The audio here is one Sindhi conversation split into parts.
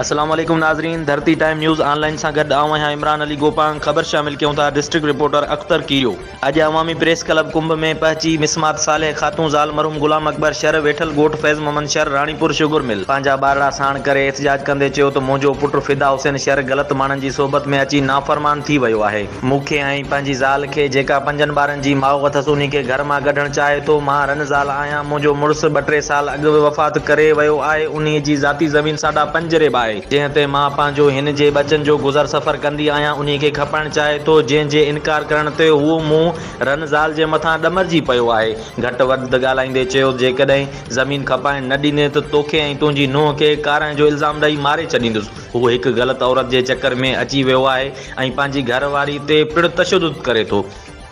السلام عليڪم ناظرين ڌرتي ٽائيم نيوز آن لائين سان گڏ آئون آهيان عمران علي گوپانگ خبر شامل ڪيون ٿا ڊسٽرڪٽ رپورٽر اختر ڪيريو اڄ عوامي پريس ڪلب ڪنب ۾ پهچي مسمات صالح خاتون زال مرحوم غلام اڪبر شر ويٺل ڳوٺ فيض محمد شر راڻيپور شگر مل پنهنجا ٻارڙا ساڻ ڪري احتجاج ڪندي چيو ته منهنجو پٽ فدا حسين شر غلط ماڻهن جي صحبت ۾ اچي نافرمان ٿي ويو آهي مون کي ۽ پنهنجي زال کي جيڪا پنجن ٻارن جي ماء اٿس انهي کي گهر مان ڪڍڻ چاهي ٿو. مان رن زال آهيان. منهنجو مڙس ٻه ٽي سال اڳ به وفات ڪري ويو آهي. انهي جي ذاتي زمين ساڍا پنج ريب آهي. جنهن تي مان پنهنجو هن جي ٻچن جو گذر سفر ڪندي آهيان. انهي کي کپائڻ چاهي ٿو. جنهن جي انڪار ڪرڻ تي هو مون رن زال جي مٿان ڏمرجي پيو آهي. گهٽ وڌ ڳالهائيندي چيو جيڪڏهن زمين کپائڻ نه ڏني ته توکي ۽ تنهنجي نونهن کي ڪارانهن جو الزام ڏئي ماري ڇڏيندس. هو هڪ غلط عورت جي چڪر ۾ اچي ويو آهي ۽ پنهنجي گهر واري تي پڻ تشدد ڪري ٿو.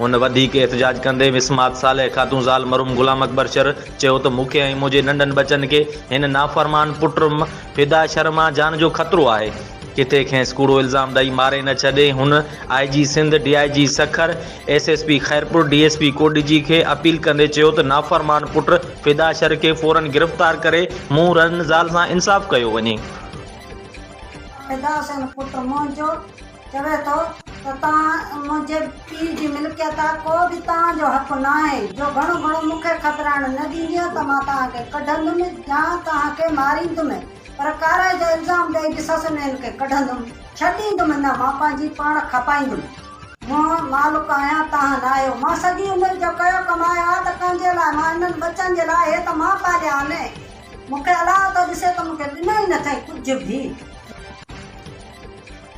هن وڌيڪ احتجاج ڪندي مسمات صالح خاتون زال مرحوم غلام اڪبر شر چيو ته مون کي ۽ منهنجي ننڍن ٻچن کي هن نافرمان پٽ م فدا شر مان جان جو خطرو آهي. ڪٿي کينس ڪوڙو الزام ڏئي ماري نه ڇڏي. هن I G Sindh, D I G Sukkur, S S P Khairpur, D S P ڪوڏجي کي اپيل ڪندي چيو ته نافرمان پٽ فدا شر کي فورن گرفتار ڪري منهن رن زال سان انصاف ڪيو وڃي. فدا حسين پٽ منهنجو چوي ٿو ته توهان منهنجي پيء جي ملڪيت آهي ڪو به توهان جو حق ناهي جو گهڻو گهڻو مون کي کپرائڻ نه ڏيندينء ته مان توهان کي ڪڍندم يا توهان کي ماريندم پر ڪارائي جو الزام ڏئي به سسنين کي ڪڍندم ڇڏيندم نه مان پنهنجي پاڻ کپائيندم مان مالڪ آهيان توهان ناهيو مان سڄي عمر جو ڪيو ڪمايو آهي ته ڪنهن جي لاء مان انهن ٻچن جي لاء هي ته مان پاليا آهن مون کي الاء ٿو ڏسي ته مون کي ڏنو ئي نه اٿئي ڪجهه به.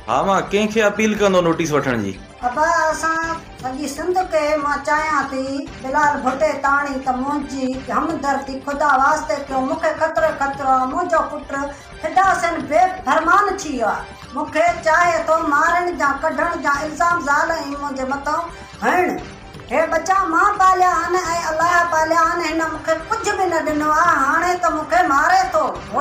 ها مان ڪنهن کي اپيل ڪندو نوٽيس وٺڻ جي. ابا اسان سڄي سنڌ کي مان چاهيان ٿي بلال ڀٽي تاڻي ته منهنجي همدردي خدا واسطي ڪيو مون کي خطرو ئي خطرو آهي منهنجو پٽ فدا حسين بي فرمان ٿي ويو آهي مون کي چاهي ٿو مارڻ جا ڪڍڻ جا الزام زال ۽ منهنجي مٿان هڻڻ هي ٻچا مان پاليا آهن ۽ الله پاليا آهن، هن مون کي ڪجهه به نه ڏنو آهي، هاڻي ته مون کي ماري ٿو.